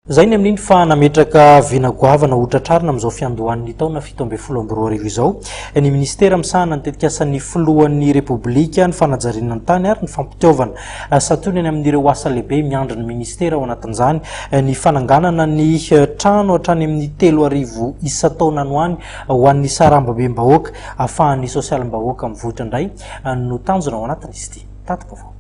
Izay ny amin'iny fa nametraka vina goavana ho tratrarina amin'izao fiandohan'ny taona fito ambin'ny folo amby roa arivo izao ny Minisitera misahana ny tetikasan'ny Filohan'ny Repoblika, ny fanajariana ny tany ary ny fampitiaovana. Santionany amin'ireo asa lehibe miandry ny Minisitera ao anatin'izany ny fananganana ny trano hatrany amin'ny telo arivo isan-taona any ho any ho an'ny sarambabem-bahoaka ahafahan'ny sosialim-bahoaka mivoitra indray no tanjona ao anatin'izy ity Tati-baovao.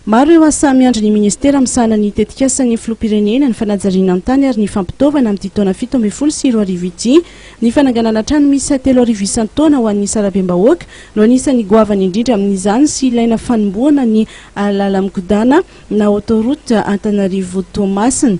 Maro ireo asa miandry ny Ministera misahana ny tetikasan'ny Filoham-pirenena, ny fanajariana ny tany ary ny fampitaovana amin'ity taona fito ambin'ny folo sy roa arivo ity. Ny fananganana trano miisa telo arivo isan-taona ho an'ny sarabem-bahoaka no anisan'ny goavana indrindra amin'izany sy ilaina fanombohana ny làlan-kodàna na autoroute Antananarivo-Toamasina.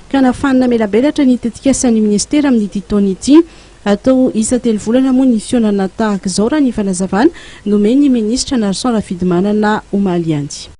ka nahafaha namelabelatra ny tetikasan'ny minisitera amin'ity taona ity. Hatao isa-telo volana moa ny fihaonana tahaka izao, raha ny fanazavana nomen'ny minisitra Narison Rafidimanana omaly ihany.